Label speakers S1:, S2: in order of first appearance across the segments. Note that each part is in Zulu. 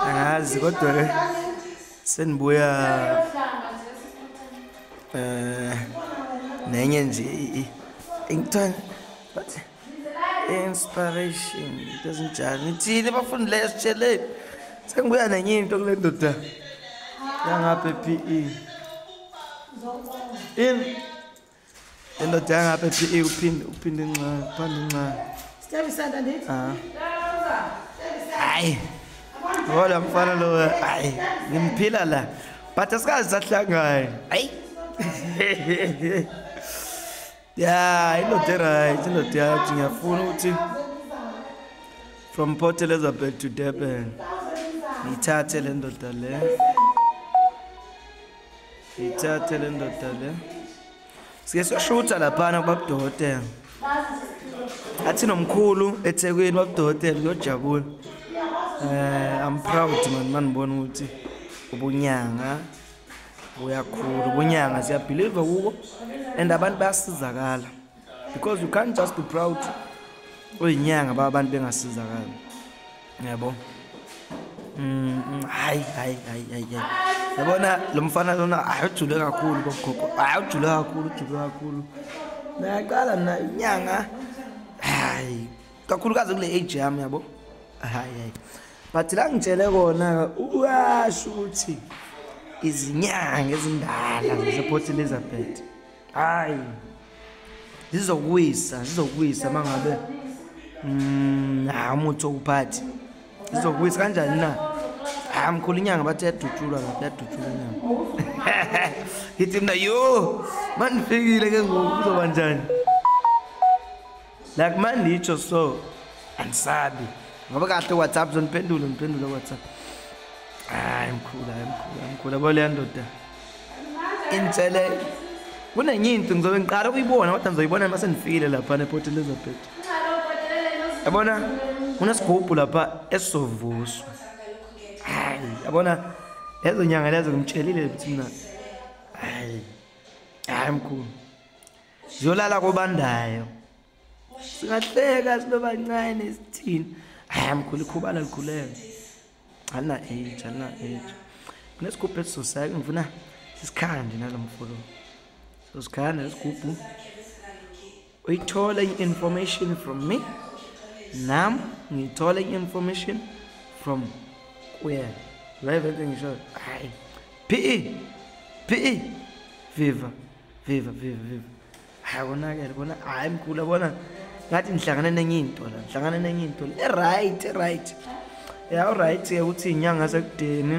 S1: angazi kodwa ke senibuya eh nenye nje ingithanda but inspiration doesn't judge ngithini bafundi leyo sitsheleni sengibuya nenye into kule ndoda yangapha e. PE in Indoda yangapha ePE uphinde uphinde incane, uphinde incane. Step isanda
S2: ndithi. Ah. Hayi.
S1: Ngola mfana lo hayi ngimphila la. But asikazi sahlangana. Hayi. Yeah, indoda right, indoda yathi ngiyafuna ukuthi from Port Elizabeth to Durban. Ngithathe le ndoda le. Ithathe le ndoda le. Sike soshutha laphana kubabudokotela. Athi nomkhulu eThekwini babudokotela uyojabula. Eh I'm proud man manibona ukuthi ubunyanga buyakhulu ubunyanga siyabelieve kubo and abantu bayasizakala. because you can't just be proud uyinyanga ba abantu bengasizakali yabo mm hayi hayi hayi hayi yabona lo mfana lona ayujule kakhulu bogogo ayujule kakhulu ujule kakhulu nayaqala mina inyanga hayi kakhulukazi kule age yami yabo hayi hayi but la ngitshele kona uyasho ukuthi izinyanga ezindala zase Port Elizabeth hayi zizokuwisa zizokuwisa mangabe mm ha umuthi okuphathi zizokuwisa kanjani na ha mkhulu inyanga bathi yadutshulwa lapha yadutshulwa inyanga ngithi mina yo mandifikile ke ngoku kuzoba njani like manditsho so andisabi ngoba kahle whatsapp zoniphendule ngiphendule whatsapp hayi mkhulu hayi mkhulu hayi mkhulu yabo leya ndoda inselelo kunenye into ngizobe ngiqala ukuyibona kodwa ngizoyibona uma sendifikile lapha neport elizabeth yabona kunesigubhu lapha esizovuswa hayi yabona lezo nyanga lezo ngimtshelile ukuthi mina hayi hayi mkhulu ziyolala kobandayo singahleka sibebancane sithini hayi mkhulu ikhubala likhulele ana age ana age kunesigubhu esizoseka ngifuna sisikhande nalo mfolo sosikhande lesigubhu uyithola i-information from me nam ngiyithola i-information from kuye live engisho hayi phe phe viva viva viva viva hayi konakele kona hayi mkhulu yabona ngathi ngihlangane nenye into la ngihlangane nenye into la e-right e-right ya u-right ke ukuthi inyanga sekudeni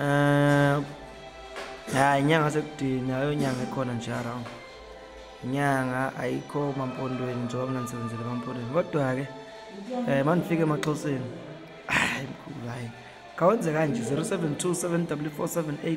S1: um hayi inyanga sekudeni ayo nyanga ekhona nje around inyanga ayikho mampondweni njengoba mina ngisebenzele emampondweni kodwa-ke um eh, mandifike emaxhoseni hayi mkhulu hayi kawenze kanje 072 7 4 7 8